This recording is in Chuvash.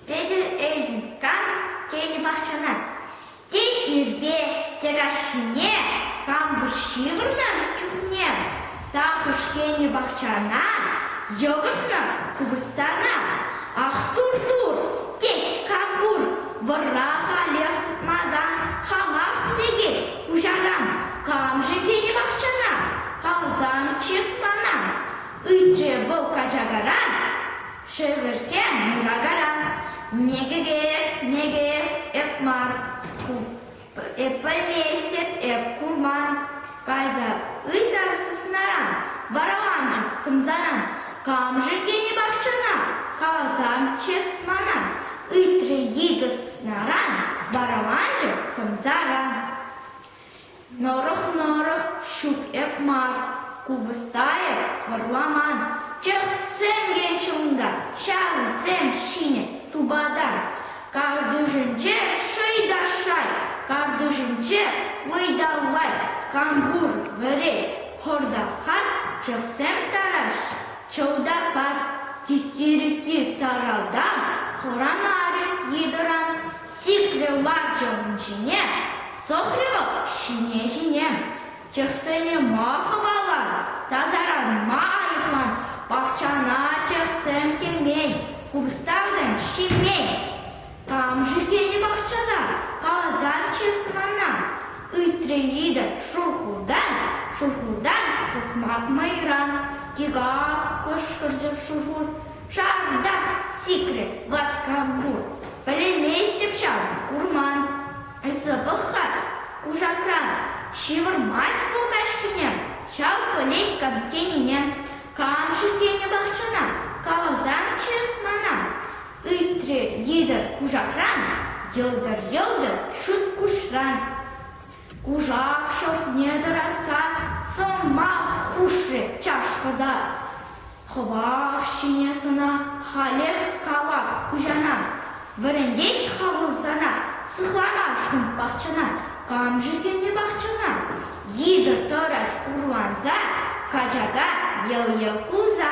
Петӗр Эйзенкан кӗнӗ пахчана те ирпе те каҫхине пампуҫ ҫывӑрнӑ чухне Тахӑш-кенӗ пахчана йӑкӑртнӑ, купӑстана ах тур-тур, тет кам пур, вӑрра халех тытмасан хамах лекет пуҫаран, кам-ши кенӗ пахчана калсан чыс мана, ыйтрӗ вӑл качакаран, шевӗрте муракаран, мекӗ-ке, мекӗ, эп мар ку. Эп пӗлместӗп, эп курман. Кайса ыйтар сыснаран, вараланчӑк сӑмсаран. Кам-ши тенӗ пахчана? Каласан чыс мана, ыйтрӗ йытӑ сыснаран, вараланчӑк сӑмсаран. Нӑрӑх-нӑрӑх ҫук эп мар, купӑста эп вӑрламан. Чӑхсем килчӗ унта, ҫавсем ҫинӗ тупата. Картишӗнче шӑй та шай, картишӗнче вӑй та вай, кампур, вӗрет, хор та хат, чӑхсем тараҫҫӗ, чӑв та пар. Тикки-рикки саралтан хӑранарӗ йытӑран, сиплӗ ларчӑк ҫине сӑхрӗ вӑл ҫине-ҫине. Чӑхсене ма хӑвалан? Тасаран ма айӑплан? Пахчана чӑхсем кӗмен, кустарсем ҫимен. Кам-ши тенӗ пахчана? Калсанччӗс мана. Ыйтрӗ Лида Шухӑртан, Шухӑртан тӑсмак мӑйран. Тига кӑшкӑрчӗ Шухӑр. Шартах сикрӗ ваткам пур. Пӗлместӗп ҫав, курман. Ыйтса пӑх-ха, кушакран ҫывӑрмасть вӑл каҫкӗне, ҫав пӗлет кам тенине. Кам-ши тенӗ пахчана, каласан чыс мана, ыйтрӗ йытӑ кушакран, йӑлтӑр-йӑлтӑр ҫут куҫран. Кушак шӑртне тӑратса сӑмах хушрӗ чашкӑ та. Хӑвах ҫине сӑна, халех кала хуҫана. Вӗрентет-ха вӑл сана, сыхланашкӑн пахчана. Кам-ши тенӗ пахчана? Йытӑ тӑрать хурланса, качака йӑл-йӑл кулса.